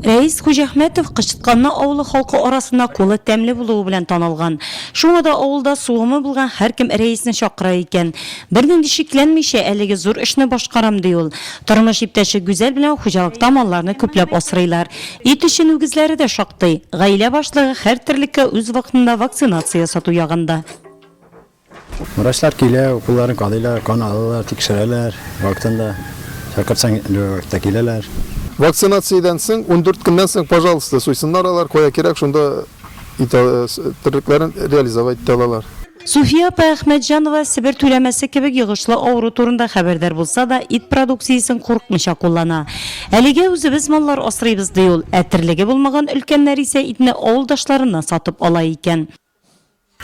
Рәис Хуҗәхмәтов Кычытканны авылы халкы арасында кулы тәмле булуы белән танылган. Шуңа да авылда сугымы булган һәркем Рәисне чакыра икән. Бернинди шикләнмичә, әлеге зур эшне башкарам, ди ул. Тормыш иптәше Гүзәл белән хуҗалыкта малларны күпләп асрыйлар. Ит өчен үгезләре дә шактый. Гаилә башлыгы һәр терлеккә үз вакытында вакцинация ясату ягында. Врачлар килә, уколларын кадыйлар, кан алалар, тикшерәләр, вакытында чакырсаң, любой вакытта киләләр. Вакцинациядән соң, ундүрт көннән соң, пожалуйста, суйсыннар алар, кая кирәк, шунда терлекләрен реализовать итә алалар. Суфия апа Әхмәтҗанова Себер түләмәсе кебек йогышлы авыру турында хәбәрдар булса да, ит продукциясен курыкмыйча куллана. Әлегә үзебез маллар асрыйбыз, ди ул, ә терлеге булмаган өлкәннәр исә итне авылдашларыннан сатып ала икән.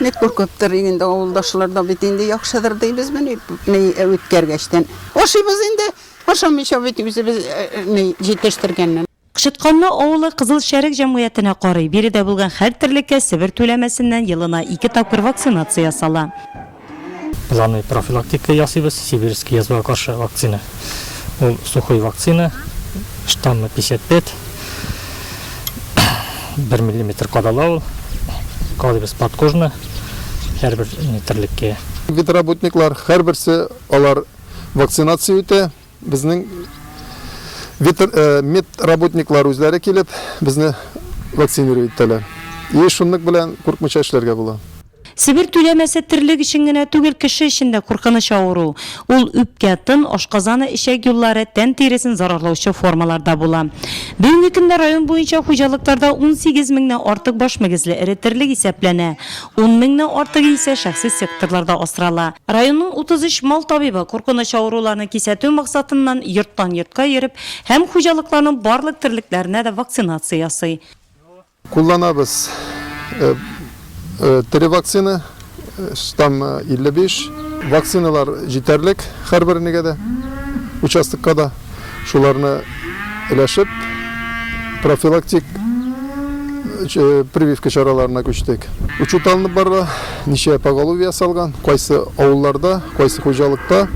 Ник куркыптыр инде авылдашлар да бит инде яхшыдыр дибез мени үткәргәчтән. Ашыйбыз инде, ашамыйча бит үзебез җитештергәннән. Кычытканлы авылы Кызыл Шәрык җәмгыятенә карый. Биредә булган һәр терлеккә Себер түләмәсеннән елына ике тапкыр вакцинация ясала. Планы профилактика ясыйбыз, сибирский язвага каршы вакцина. Ул сухой вакцина, штаммы 55, бер миллиметр кадала ул. Кадыйбыз подкожно, һәрбер метрлеккә. Ветработниклар, һәрберсе алар вакцинация үтә. Безнең ветр, э, медработниклар үзләре килеп, безне вакцинировать итәләр. И шунлык белән куркмыйча эшләргә була. Себер түләмәсе терлек өчен генә түгел, кеше өчен дә куркыныч авыру. Ул үпкә, тын, ашказаны, эчәк юллары, тән тиресен зарарлаучы формаларда була. Бүгенге көндә район буенча хуҗалыкларда унсигез меңнән артык баш мөгезле эре терлек исәпләнә, ун меңнән артыгы исә шәхси секторларда асрала. Районның утыз өч мал табибы, куркыныч авыруларны кисәтү максатыннан, йорттан-йортка йөреп һәм хуҗалыкларның барлык терлекләренә дә вакцинация ясый. Кулланабыз тере вакцина, штамм 55. Вакциналар җитәрлек һәрберенегә дә, участокка да. Шуларны өләшеп, профилактик прививка чараларына күчтек. Учет алынып барыла, ничә поголовье ясалган, кайсы авылларда, кайсы хуҗалыкта.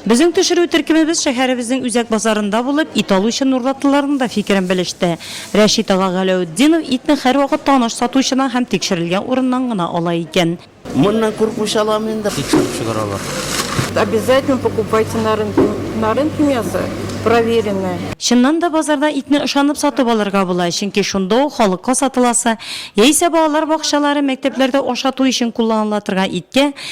Безнең төшерү төркемебез шәһәребезнең үзәк базарында булып, ит алучы нурлатлыларның да фикерен белеште. Рәшит ага Галәүтдинов итне һәрвакыт таныш сатучыдан һәм тикшерелгән урыннан гына ала икән. Моннан куркмыйча алам инде. Тикшереп чыгаралар. Обязательно покупайте на рынке. На рынке мясо проверенное. Чыннан да, базарда итне ышанып сатып алырга була, чөнки шунда ук халыкка сатыласы, яисә балалар бакчалары, мәктәпләрдә ашату өчен кулланыла торган иткә,